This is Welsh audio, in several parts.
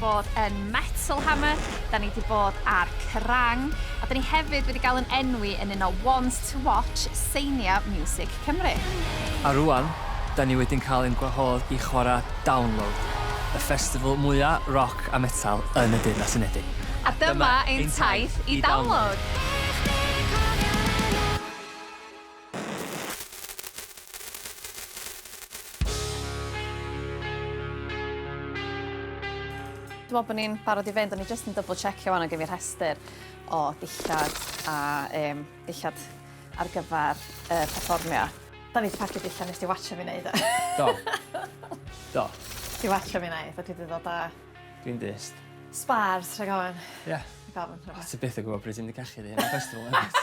bod yn Metal Hammer, da ni wedi bod ar Kerrang! a da ni hefyd wedi cael yn enwi yn un o Ones to Watch Seinia Miwsig Cymru. A rŵan, da ni wedi'n cael ein gwahodd i chwarae Download, y festival mwya' roc a metal yn y Deyrnas Unedig. A dyma ein taith i Download! Dwi me'wl bo' ni'n barod i fynd o'n i jyst yn dybl checio ŵan o' gen fi rhestyr o dillad a yym dillad ar gyfar y perfformio. 'Dan ni 'di pacio dillad nes di watsio fi neud e. Do. Do. Ti watsio fi neud a dwi 'di ddod â... Dwi'n dyst. ...spars rhag ofn. Ie. Rhag ofn. O ti byth yn gwbo pryd ti mynd i cachu dy hun ar festival nagwt?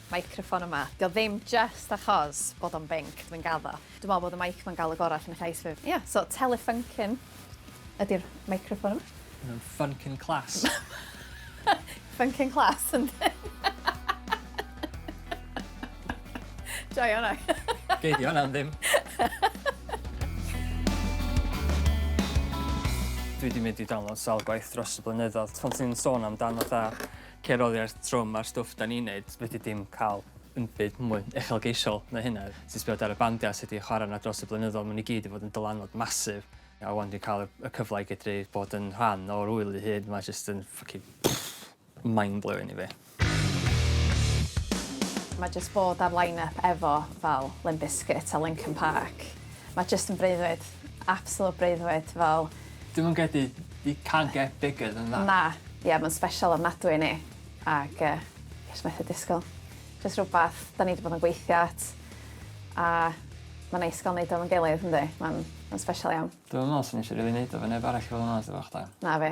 Meicroffon yma. Dio ddim jyst achos bod o'n binc dwi'n gaddo. Dwi me'wl bod y meic ma'n ga'l y gora allan o llais fi. Ia so Telefunken ydi'r meicroffon yma. Ma' nw'n funkin class. Funkin class yndi? Joio wnna. Gei di wnna am ddim. Dwi 'di mynd i download sawl gwaith dros y blynyddodd t- pan ti'n sôn amdan fatha Ceir oddiarth trwm ar stwff da ni'n neud. Fedri di'm cael unbyd mwy uchelgeisiol na hynna. Ti'n sbio ar y bandiau sy' 'di chwarae yna dros y blynyddoedd, maen nhw i gyd 'di bod yn dylanwad massive. A 'wan dwi'n cael y cyfle i gedru bod yn rhan o'r ŵyl ei hun, mae jyst yn ffycin mind blowing i fi. Mae jyst bod ar line-up efo fel Limp Bizkit a Linkin Park, Mae jyst yn breuddwyd. Absolute breuddwyd fel. Dwi'm yn credu you can't get bigger than that. Na. Ie mae'n special ofnadwy i ni ac yy fi jyst methu disgwyl. Jyst rhywbeth 'dan ni 'di bod yn gweithio at a mae'n neis ga'l neud o efo'n gilydd yndi? Mae'n mae'n special iawn. Dwi'm yn meddwl swn i isio rili neud o efo neb arall i fod yn onest efo chdi. Na fi.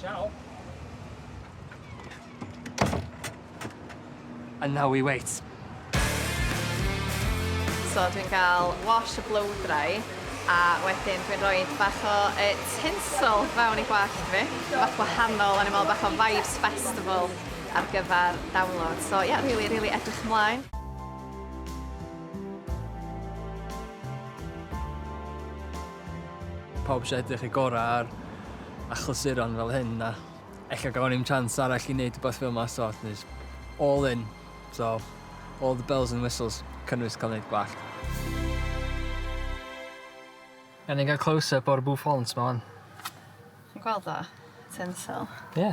Ciao. And now we wait. So dwi'n cael wash y blow dry a wedyn dwi'n rhoi bach o e, tinsel fewn i gwallt fi. Bach wahanol, o'n i'n meddwl bach o Vibes Festival ar gyfer download. So ie, yeah, really, really edrych ymlaen. Pawb eisiau edrych eu gorau ar achlysuron fel hyn a ella gawn ni'm chance arall i wneud rhywbeth fel yma so it's all in. So all the bells and whistles cynnwys cael gwneud gwallt. Gawn ni gael close up o'r bouffant 'ma 'wan? Chi'n gweld o? Tinsel. Ie.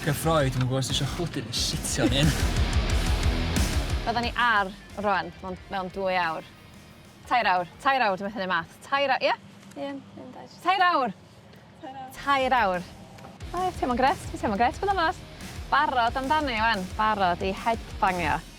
Cyffroi, dwi'm yn gwybod os ti isio chwydu neu sitio yn hyn. Fydda ni ar rwan mewn, mewn dwy awr. Tair awr, tair awr, dwi'n methu neud math. Tair awr, ie? Ie, un, dau, tri. Tair awr! Tair awr. Tair awr. O, ie, teimlo'n grêt, dwi'n teimlo'n grêt, bod yn onast. Barod amdani wan, barod i headbangio.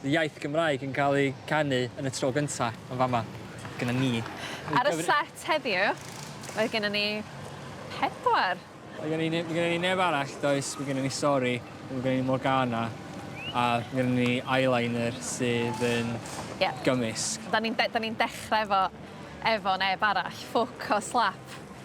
The iaith Gymraeg yn cael ei ganu yn y tro gynta yn fama, gyda ni. Ar y set heddiw, mae gennym ni pedwar. Mae gennym ni, mae gennym ni neb arall, does, mae gennym ni Sori, mae gennym ni Morgana, a mae gennym ni Eyeliner sydd yn yeah. gymysg. Da ni'n de, ni dechrau efo, efo neb arall, ffwc o slap.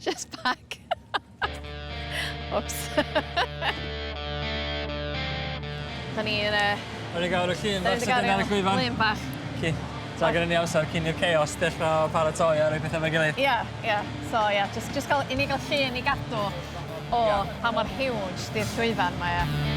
Just back. Oops. da ni yn y... Da ni gawr y llun bach sydd yn ar y llwyfan. Llun bach. Ci. Ta gyda ni amser cyn i'r chaos dechrau paratoi ar ei pethau fe gilydd. Ia, ia. So ia, just, just gael, i ni gael llun i gadw o yeah. pa mor huge di'r llwyfan mae e.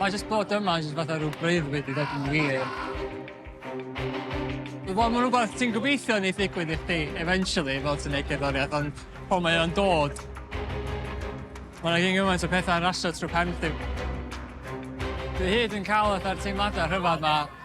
Mae jyst bod yma jyst fatha rhyw bryd wedi dod yn wir. Wel, mae'n rhywbeth ti'n gobeithio wneud ddigwydd i chdi eventually fel ti'n neud cerddoriaeth, ond pan mae o'n dod, mae yna gyn gymaint o pethau yn rasio trwy pen chdi. Dwi hyd yn cael fatha'r teimladau rhyfedd 'ma.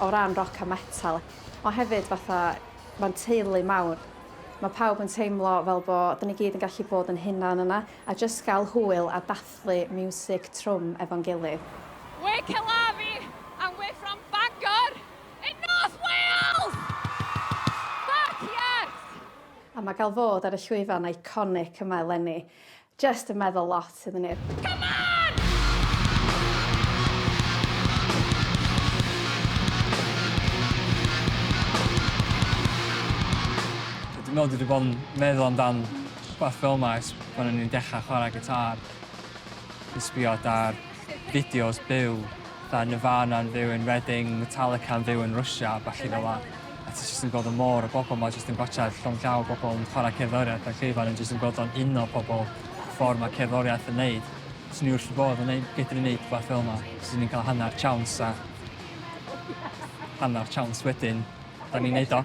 o ran roc a metal ond hefyd fatha mae'n teulu mawr. Mae pawb yn teimlo fel bo' 'da ni gyd yn gallu bod yn hunan yna a jyst gael hwyl a dathlu miwsig trwm efo'n gilydd. We're Kelavi and we're from Bangor in North Wales! Fuck yes! A mae gael fod ar y llwyfan iconic yma eleni Jyst yn meddwl lot iddyn nhw. Come on! Dwi'n meddwl dwi 'di bod yn meddwl amdan rhywbeth fel 'ma ers pan o'n i'n dechra chwara gitâr. Dwi'n sbio adar. fideos byw, fatha Nirvana'n fyw yn Reading, Metallica'n fyw yn Rwsia a ballu fel 'a. A ti jyst yn gweld y môr o bobl 'ma jyst yn gwatsiad llond llaw o bobl yn chwarae cerddoriaeth a Craven yn jyst yn gweld o'n uno pobl y ffor ma' cerddoriaeth yn neud. Swn i wrth fy bodd yn neud fedru neud rwbath fel 'na. Swn i'n ca'l hannar chance a hannar chance wedyn 'dan ni'n neud o.